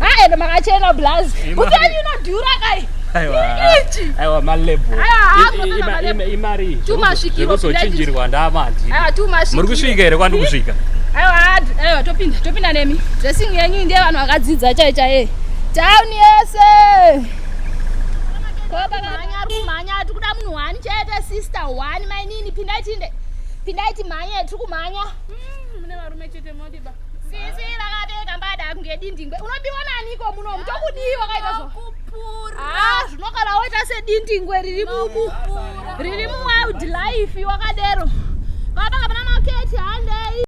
aeno makachena blaz upenyu unodhura kai aiwa maleboimari zvekusochinjirwa ndamandi muri kusvika here kwandi kusvika aiwa topinda topinda nemi dressing yenyu ndiye vanhu vakadzidza chai chaiye town yese kumhanya tiri kuda munhu one chete sister one mainini pindaitinde pindaiti mhanye tiri kumhanya mm, mune varume chete dindingwe unobiwa naniko munomu tokudii wakaita ah, zvinogara woita sedindingwe riri muku riri muwild life wakadero vapanga pana maketi handei